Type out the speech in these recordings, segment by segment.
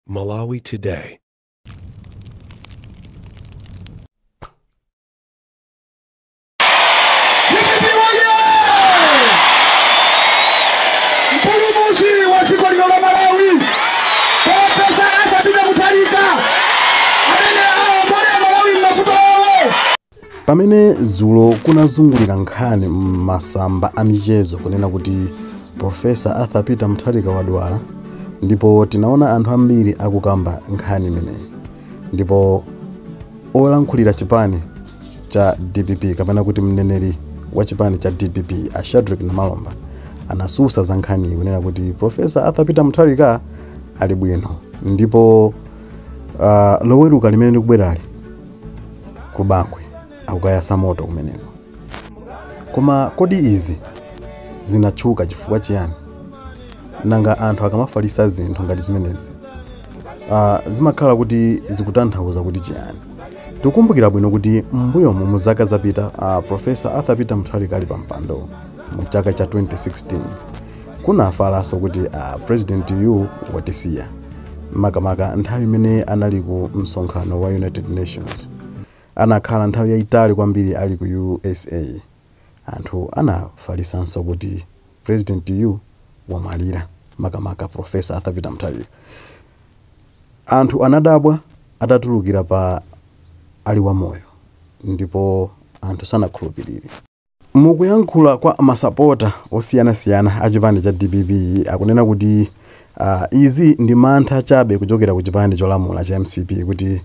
Malawi Today. Dpp oye! Mpulumuzi wa dziko lino la Malawi, Profesa Arthur Peter Mutharika, amene aombole Malawi m'mavuto awo, Pamene dzulo kunazungulira nkhani m'masamba a michezo kunena kuti Professor Arthur Peter Mutharika wadwala, ndipo tinaona anthu ambiri akukamba nkhani imeneyi, ndipo olankhulira chipani cha dpp kapena kuti mneneri wa chipani cha dpp a Shadric Namalomba anatsutsa za nkhaniyi kunena kuti Professor Arthur Peter Mutharika ali bwino ndipo uh, loweruka limene likubwerali ku bangwe akukayasa moto kumeneko koma kodi izi zinatchuka chifukwa chiyani nanga anthu akamafalisa zinthu ngati zimenezi ah, zimakhala kuti zikutanthauza kuti chiyani tikumbukira bwino kuti m'mbuyomu mu zaka zapita uh, profesa arthur peter mutharika ali pa mpando mu chaka cha 2016 Kunafalanso kuti a president yu watisiya makamaka nthawi imene anali ku msonkhano wa United Nations. Anakhala nthawi yaitali kwambiri ali ku usa. Anthu anafalisanso kuti president yu wamwalira makamaka Professor Arthur Peter Mutharika. Anthu anadabwa atatulukira pa ali wamoyo ndipo anthu sanakhulupilire. Mukuyankhula kwa masapota osiyana siyana a chipani cha dpp akunena kuti izi ndi mantha chabe kuchokera ku chipani cholamula cha mcp kuti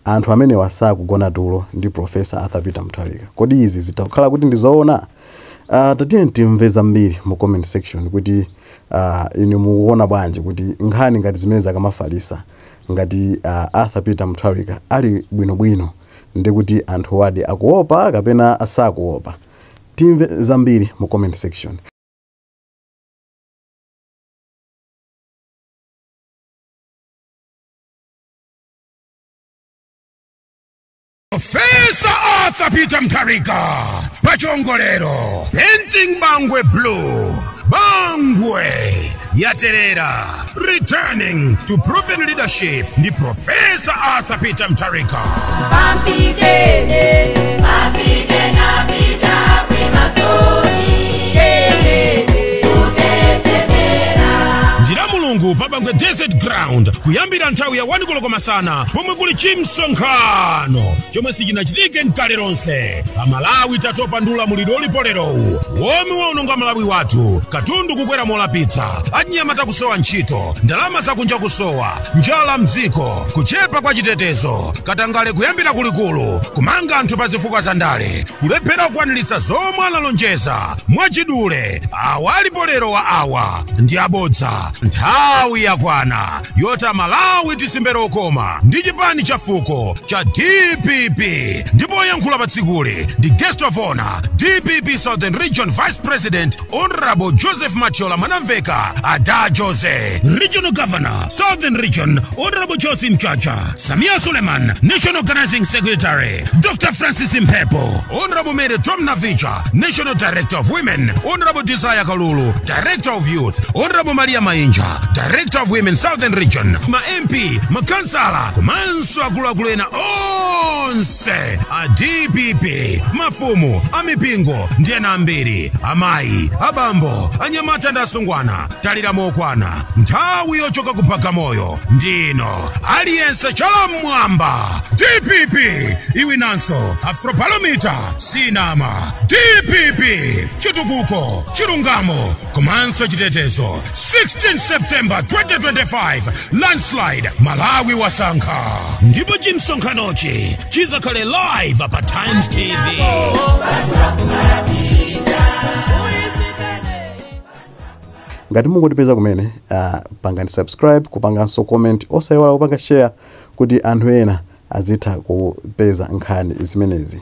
anthu amenewa sakugona tulo ndi Professor Arthur Peter Mutharika. Kodi izi zitha kukhala kuti ndi zoona? Tatiyeni timve zambiri mu comment section kuti inu mukuona bwanji kuti nkhani ngati zimenezi akamafalisa ngati Arthur Peter Mutharika ali bwino bwino? ndekuti anthuwadi akuopa kapena sakuopa? Timve zambiri mu comment section. Professor Arthur Peter Mutharika pachiongolero Painting Bangwe Blue Bangwe yaterera Returning to proven leadership ndi Professor Arthur Peter Mutharika. Papigene, papigene apita kwimasoni. Yelele, utetemera. ndira mulungu pa bangwe desert ground kuyambira nthawi ya 1 koloko masana pomwe kuli chimsonkhano chomwe sichinachitike nkale lonse amalawi tatopa ndi ulamuliro ulipo lerowu womwe waononga malawi wathu katundu kukwera molapitsa achinyamata kusowa ntchito ndalama zakunja kusowa njala mdziko kuchepa kwa chitetezo katangale kuyambira kulikulu kumanga anthu pa zifukwa za ndale kulephera kukwaniritsa zomwe analonjeza mwachidule awa alipo lero wa awa ndi abodza nthawi yakwana yoti amalawi tisimbe lokoma ndi chipani cha fuko cha dpp ndipo oyankhula pa tsikuli ndi guest of honor dpp southern region vice president Honorable Joseph Matiola Manamveka, Ada Jose, Regional Governor, Southern Region, Honorable Josie Mchacha, Samia Suleiman, National Organizing Secretary, Dr. Francis Mpepo, Honorable Mary Tom Navicha, National Director of Women, Honorable Desire Kalulu, Director of Youth, Honorable Maria Mainja, Director of Women Southern Region, ma MP, makansala, komanso akuluakulu ena onse onse a dpp mafumu amipingo ndi ena ambiri amayi abambo anyamata ndi asungwana talira mokwana nthawi yochoka ku bagamoyo ndino aliyense chala mmwamba dpp iwinanso APM palomita sinama dpp chitukuko chilungamo komanso chitetezo 16 september 2025 landslide malawi wasankha ndipo chimsonkhanochi chizakhale live pa times tv ngati mungotipeza kumene pangani subscribe kupanganso comment osayiwala kupanga share kuti anthu ena azitha kupeza nkhani zimenezi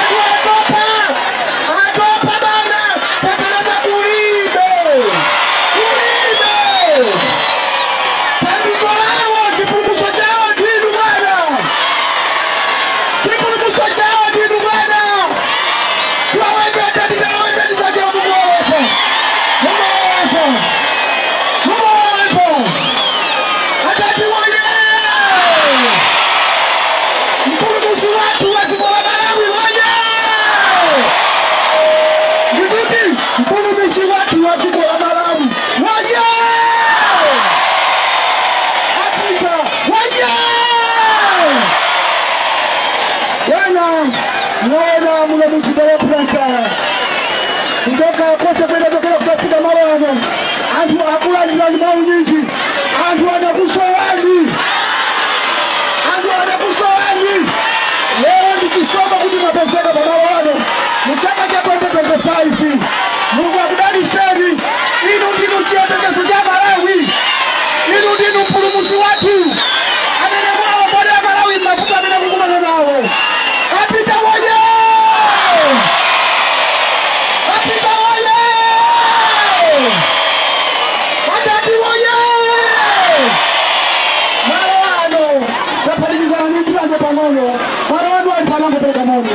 Anthu atopa, atopa bwana, tapereza kulibe, kulibe. Thandizo lawo, chipulumutso chawo ndi inu bwana, chipulumutso chawo ndi inu bwana. Wawendeta ndinawenda ndisaja Mungu wawepo, Mungu wawepo, Mungu wawepo. Adadi woye! Mpulumutsi wathu wa dziko la Malawi woye! Ndikuti mpulumutsi wathu wa dziko la Malawi woye! Adadi woye! Bwana, mwaona muno mu mzinda wa Blantyre kuchoka konse kwenda chokera kudzafika malo ano anthu akulandirani mwaunyinji anthu anakusowani anthu anakusowani lero ndi chisomo kuti mwapezeka pamalo ano mu chaka cha 2025 mulungu akudaliseni inu ndinu chiyembekezo cha malawi inu ndinu mpulumusi wathu amene muwaombole amalawi mavuto amene akukumana nawo a Peter woye a Peter woye Adadi woye! Malo ano tapatsidwa nthawi pang'ono. Malo ano anthu anangopereka moni.